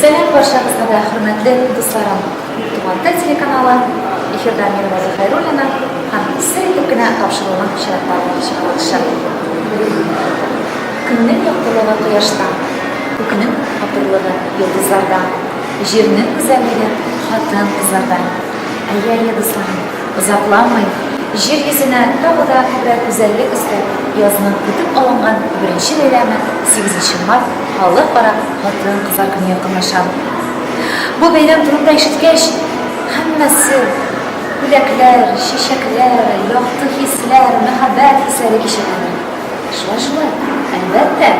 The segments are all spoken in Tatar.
Сәлам барчагызга да, хөрмәтле дусларым! Туган тел телеканалы эфирда мин Роза Хәйруллина һәм сер итеп кенә тапшыруның чираттагы чыгарылышы. Көннең яктылыгы кояшта, күкнең матурлыгы йолдызларда, җирнең гүзәллеге хатын-кызларда. Әйе, әйе, дусларым! Озакламый җир йөзенә тагы да күбрәк гүзәллек өстәп, язның көтеп алынган беренче бәйрәме, 8 март, халыкара хатын-кызлар көне якынлаша. Бу бәйрәм турында ишеткәч, һәммәсе бүләкләр, чәчәкләр, якты хисләр, мәхәббәт хисләре кичерәләр. Шулай-шулай, әлбәттә,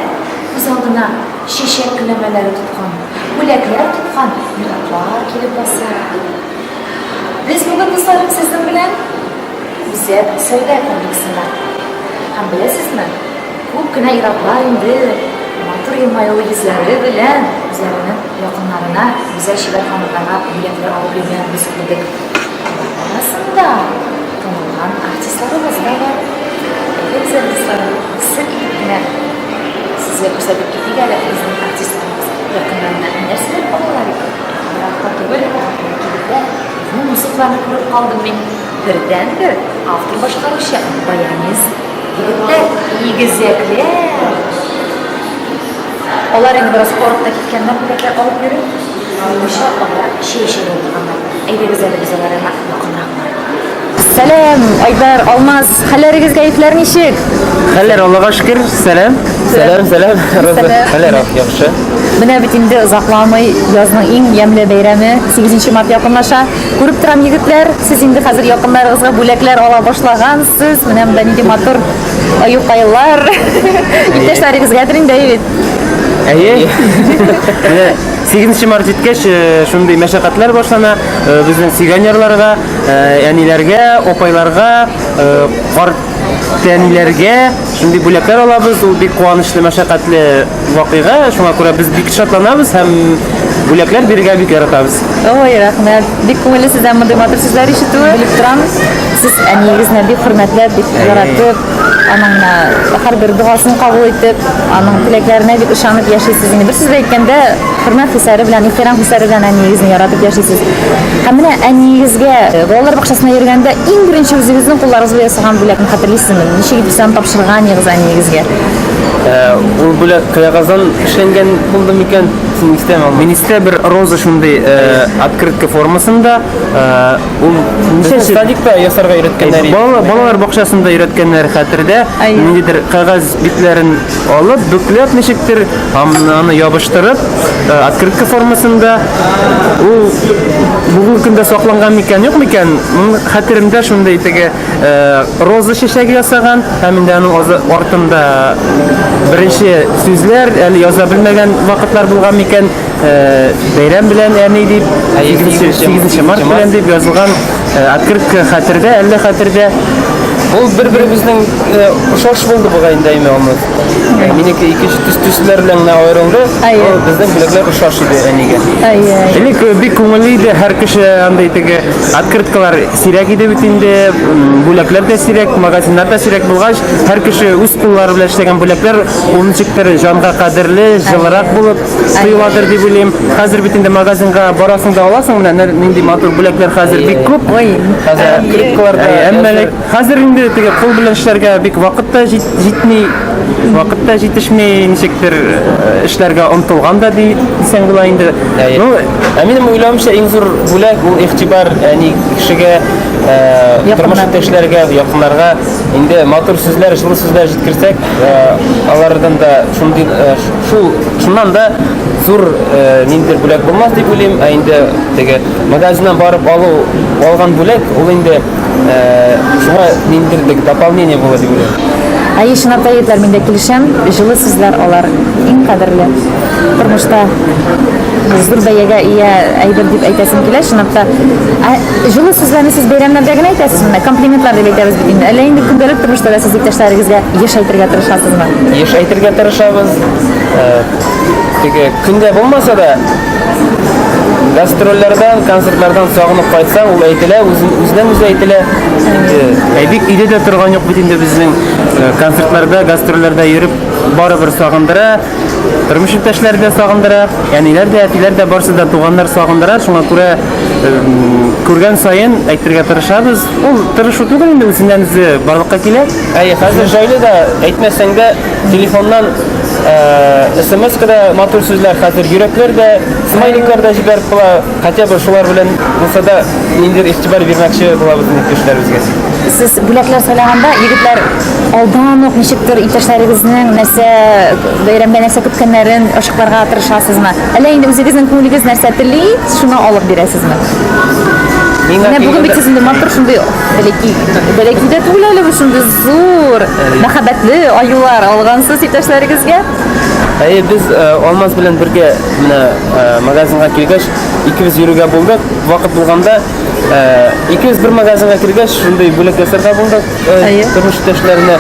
күз алдына чәчәк көләмәләре тоткан, бүләкләр тоткан ир-атлар килеп баса. Без бүген дусларым сезнең белән үзәк сәүдә комплексында. Һәм беләсезме, күп кенә ираклар инде матур елмаюлы йөзләре белән үзләренең якыннарына гүзәл шигырьханымнарга бүләкләр алып йөргәнен без күрдек. Арасында танылган артистларыбыз да бар. Әйдәгез, дусларым, сер итеп кенә сезгә күрсәтеп китик әле безнең артистларыбыз якыннарына нәрсәләр алалар икән? Еракта түгел, Әхмәкилдә безнең музыкларны күреп калдым мин. Бердәнбер автор башкаручы, баянист. Егетләр, игезәкләр! Алар инде бераз арып та киткәннәр, бүләкләр алып йөри. Мунча алар чәй эчәргә утырганнар. Әйдәгез әле без алар янына. Сәлам, Айдар, Алмаз, хәлләрегез, кәефләр ничек? Хәлләр Аллага шөкер, сәлам. Сәлам, сәлам. Хәлләр яхшы. Менә бит инде озакламый язның иң ямьле бәйрәме 8 март якынлаша. Күреп торам, егетләр, сез инде хәзер якыннарыгызга бүләкләр ала башлагансыз. Менә монда нинди матур аюкайлар. Иптәшләрегезгә дә инде бит. Әйе. 8 март җиткәч, шундый мәшәкатьләр башлана. э, безнең сиганерларга, э, әниләргә, опайларга, э, карт тәниләргә шундый бүләкләр алабыз. Ул бик куанычлы, мәшәкатьле вакыйга. Шуңа күрә без бик шатланабыз һәм бүләкләр бирергә бик яратабыз. Ой, рәхмәт. Бик күңелле сездән мондый матур сүзләр ишетүе. Белеп торабыз. Сез әниегезне бик хөрмәтләп, бик яратып, Аның менә һәрбер догасын кабул итеп, аның теләкләренә дип ышанып яшисез. Инде бер сүз белән әйткәндә, хөрмәт хисләре белән, ихтирам хисләре белән әниегезне яратып яшисез. Һәм менә әниегезгә э, балалар бакчасына йөргәндә иң беренче үзегезнең кулларыгыз белән ясаган бүләкне хәтерлисезме? Ничек итеп аны тапшырган идегез әниегезгә? Э, ул бүләк кыягаздан эшләнгән булды микән? Син истәме? Мин истә бер роза шундый э, открытка формасында Ул Безне садикта ясарга өйрәткәннәр иде. Бала, балалар бакчасында өйрәткәннәр хәтердә. Әйе. Ниндидер кәгазь битләрен алып, бөкләп ничектер, ам- аны ябыштырып, э, открытка формасында. Ул бүгенге көндә сакланган микән, юк микән? М, Хәтеремдә шундый теге э, роза чәчәге ясаган һәм инде аның аза- артында беренче сүзләр әле яза белмәгән вакытлар булган микән? Бәйрәм белән, әни, дип, 8 март белән дип язылган открытка хәтердә, әллә хәтердә? Ул бер-беребезнең ошаш булды бугай инде әйме аны. Минеке ике төс төсләр белән генә аерылды. Ул безнең бүләкләр ошаш иде әнигә. Элек бик күңелле иде, һәр кеше андый теге открыткалар сирәк иде бит инде, бүләкләр дә сирәк, магазиннар да сирәк булгач, һәр кеше үз куллары белән эшләгән бүләкләр ул ничектер җанга кадерле, җылырак булып, Сыйладыр дип уйлыйм. Хәзер бит инде магазинга барасың да аласың, менә нәр- нинди матур бүләкләр хәзер бик күп. Ой, Хәзер открыткалар да. Әй, Әмма ләк- хәзер инде теге кул белән эшләргә бик вакыт та җит- җитми, вакыт та җитешми, ничектер э, эшләргә омтылган да ди- дисәң була инде. Әй. Ну, Ә минем уйлавымча иң зур бүләк ул игътибар, әни кешегә э, Якыннар. тормыш иптәшләргә, якыннарга инде матур сүзләр, җылы сүзләр җиткерсәк, э, алардан да шундый э, ш- Шул шуннан да зур э, ниндидер бүләк булмас дип уйлыйм, ә инде теге магазиннан барып алу алган бүләк ул инде э, шуңа ниндидер теге дополнение була дип уйлыйм. Әйе, чынлап та егетләр, мин дә килешәм. Җылы сүзләр алар иң кадерле. Тормышта зур бәягә ия әйбер дип әйтәсем килә, чынлап та. Ә Җылы сүзләрне сез бәйрәмнәрдә генә әйтәсезме? Комплиментлар дип әйтәбез бит инде. Әллә инде көндәлек тормышта да сез иптәшләрегезгә еш әйтергә тырышасызмы? Еш әйтергә тырышабыз. Э, теге көндә булмаса да, гастрольләрдән, концертлардан сагынып кайтсаң, ул әйтелә, үзеннән үзе әйтелә. Ә бик өйдә дә торган юк бит инде безнең э, концертларда, гастрольләрдә йөреп, барыбер сагындыра. Тормыш иптәшләре дә сагындыра, әниләр дә, әтиләр дә, барсы да туганнар сагындыра. Шуңа күрә күргән саен әйтергә тырышабыз. Ул тырышу түгел инде, үзеннән үзе барлыкка килә. Әйе, хәзер җайлы да, әйтмәсәң дә, телефоннан смска да матур сүзләр, хәзер йөрәкләр дә, смайликлар да җибәреп була. Хотя бы шулар белән булса да ниндидер игътибар бирмәкче булабыз инде иптәшләребезгә. Сез бүләкләр сайлаганда егетләр алдан ук ничектер иптәшләрегезнең нәрсә бәйрәмгә нәрсә көткәннәрен ачыкларга тырышасызмы? Әллә инде үзегезнең күңелегез нәрсә тели, шуны алып бирәсезме? Миңа Менә бүген бит килгәндә- сез инде матур шундый бәләки бәләки дә түгел әле бу шундый зур мәхәббәтле аюлар алгансыз иптәшләрегезгә. Әйе, без э, Алмаз белән бергә Менә магазинга килгәч, икебез йөрүгә булдык. Вакыт булганда икебез бер магазинга килгәч, шундый бүләк ясарга булдык тормыш иптәшләренә.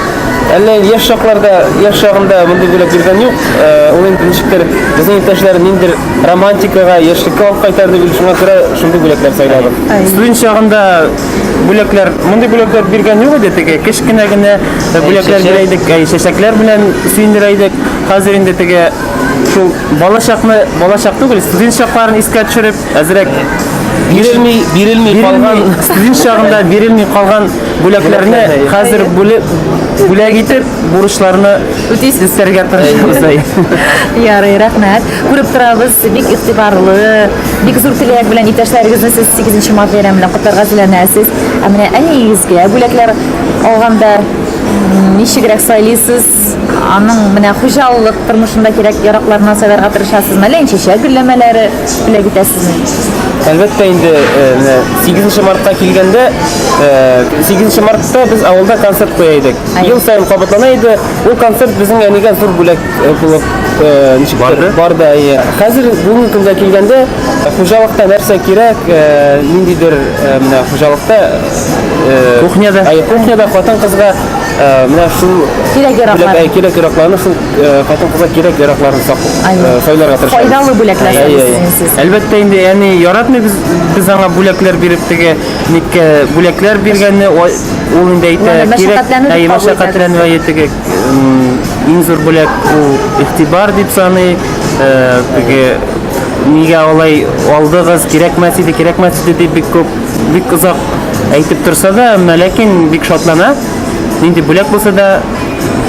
Әллә яшь чакларда, яшь чагында мондый бүләк биргән юк. Ул инде ничектер безнең иптәшләр ниндер романтикага, яшьлеккә алып кайтар дип, шуңа күрә шундый бүләкләр сайладык. Студент чагында бүләкләр, мондый бүләкләр биргән юк иде теге. Кечкенә генә бүләкләр бирә идек, чәчәкләр белән сөендерә идек. Хәзер инде теге Шул балачакны, балачак түгел, студент чакларын искә төшереп, әзрәк бирелми, бирелми калган студент чагында бирелми калган бүләкләрне хәзер бүлеп бүләк итеп бурычларны үтисез үтәргә тырышабыз ай ярый рәхмәт күреп торабыз бик игътибарлы бик зур теләк белән иптәшләрегезне сез сигезенче март бәйрәме белән котларга теләнәсез ә менә әниегезгә бүләкләр алганда ничегрәк сайлыйсыз Аның менә хуҗалык тормышында кирәк-яракларына сайларга тырышасызмы, әллә инчәчә гөлләмәләре бүләк итәсезме? Әлбәттә инде, менә 8 нче мартка килгәндә, 8 нче мартта без авылда концерт куя идек. Ел саен кабатлана иде. Ул концерт безнең әнигә зур бүләк булып ничек барды? Барды, әйе. Хәзер бүгенге көндә килгәндә, хуҗалыкта нәрсә кирәк, ниндидер менә хуҗалыкта, кухняда, әйе, кухняда хатын-кызга Менә шул кирәк яраклар. Кирәк яракларны шул хатын-кызга кирәк яракларын сайларга тырышабыз. Файдалы бүләкләр сайлыйсыз сез. Әлбәттә инде, яни яратмый без без аңа бүләкләр биреп теге никкә бүләкләр биргәнне ул инде әйтә кирәк. Әй мәшәкатьләнү әйе теге иң зур бүләк ул игътибар дип саный. Теге нигә алай алдыгыз, кирәкмәс иде, кирәкмәс иде дип бик күп Бик озак әйтеп торса да, әмма ләкин бик шатлана. Нинди бүләк булса да,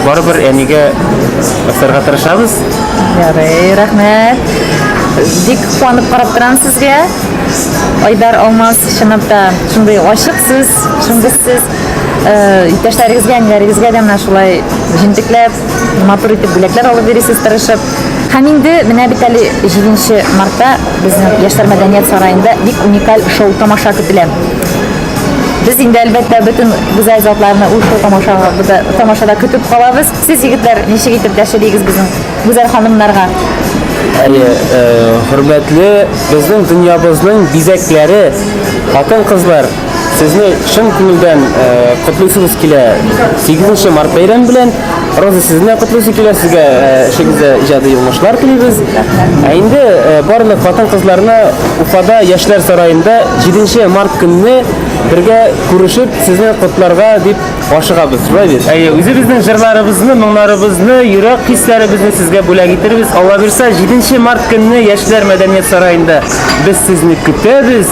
барыбер әнигә асарга тырышабыз. Ярый, рәхмәт. Бик куанып карап торам сезгә. Айдар Алмаз чынлап та шундый ачык сүз, шундый сүз. Э, Иптәшләрегезгә, әниләрегезгә дә менә шулай җентекләп матур итеп бүләкләр алып йөрисез тырышып. Һәм инде менә бит әле 7 нче мартта безнең Яшьләр мәдәният сараенда бик уникаль шоу-тамаша көтелә. Без инде, әлбәттә, бөтен гүзәл затларны ул шоу-тамашага бда тамашада көтеп калабыз. Сез, егетләр, ничек итеп дәшер игез безнең гүзәл ханымнарга? Әйе, хөрмәтле, безнең дөньябызның бизәкләре, хатын-кызлар! Сезне чын күңелдән котлыйсыбыз килә 8 март бәйрәм белән. Роза сезне котлыйсы килә, сезгә эшегездә иҗади уңышлар телибез. Ә инде барлык хатын-кызларны Уфада Яшьләр сараенда 7 март көнне бергә күрешеп, сезне котларга дип ашыгабыз. Шулай бит? Әйе, үзебезнең җырларыбызны, моңнарыбызны, йөрәк хисләребезне сезгә бүләк итербез. Алла бирсә, 7 март көнне Яшьләр мәдәният сараенда без сезне көтәбез.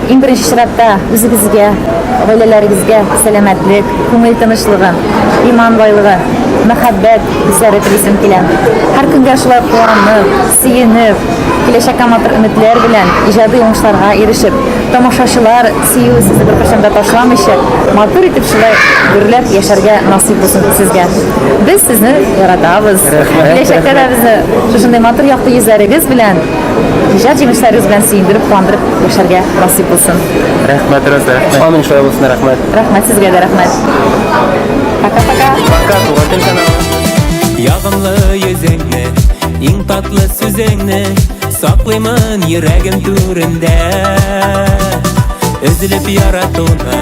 Иң беренче чиратта үзегезгә, гаиләләрегезгә сәламәтлек, күңел тынычлыгы, иман байлыгы, мәхәббәт хисләре телисем килә. Һәр көнгә шулай куанып, сөенеп, киләчәккә матур өметләр белән, иҗади уңышларга ирешеп, тамашачылар сөюе сезне беркайчан да ташламыйча, матур итеп шулай гөрләп яшәргә насыйп булсын сезгә. Без сезне яратабыз. Рәхмәт, рәхмәт. Киләчәктә дә безне шушындый матур якты йөзләрегез белән Иҗат җимешләрегез белән сөендереп, куандырып яшәргә насыйп булсын. Рәхмәт, Роза, рәхмәт. Амин, шулай булсын, рәхмәт. Рәхмәт сезгә дә, рәхмәт. Пока-пока. Пока, туган тел каналы. Ягымлы йөзеңне, иң татлы сүзеңне Саклыймын йөрәгем түрендә Өзелеп яратуны,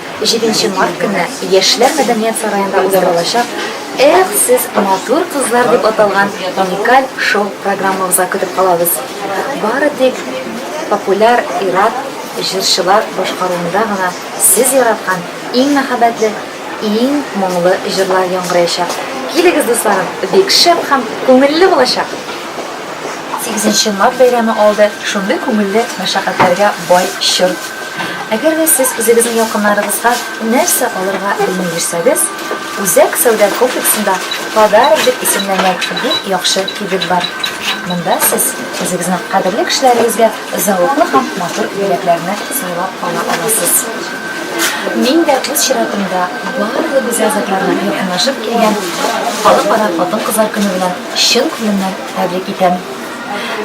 Җиденче март көнне Яшьләр мәдәният сараенда уздырылачак Эх, сез матур кызлар дип аталган уникаль шоу-программабызга көтеп калабыз. Бары тик популяр ир-ат җырчылар башкаруында гына сез яраткан иң мәхәббәтле, иң моңлы җырлар яңгыраячак. Килегез, дусларым, бик шәп һәм күңелле булачак! 8 март бәйрәме алды шундый күңелле мәшәкатьләргә бай чор. Әгәр дә сез үзегезнең якыннарыгызга нәрсә алырга белми йөрсәгез, Үзәк сәүдә комплексында Подарок дип исемләнгән бик яхшы кибет бар. Монда сез үзегезнең кадерле кешеләрегезгә зәвыклы һәм матур бүләкләрне сайлап ала аласыз. Мин дә үз чиратымда барлык гүзәл затларны якынлашып килгән Халыкара хатын-кызлар көне белән Чын күңелдән тәбрик итәм!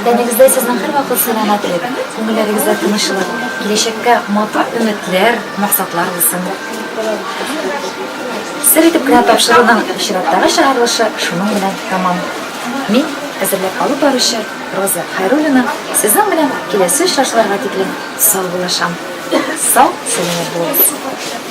Тәнегездә сезнең һәрвакыт сәламәтлек, күңелләрегездә тынычлык, киләчәккә матур өметләр, максатлар булсын! Сер итеп кенә тапшыруның чираттагы чыгарылышы шуның белән тәмам. Мин, әзерләп алып баручы Роза Хайруллина, сезнең белән киләсе очрашуларга тиклем сау булышам. Сау-сәламәт булыгыз!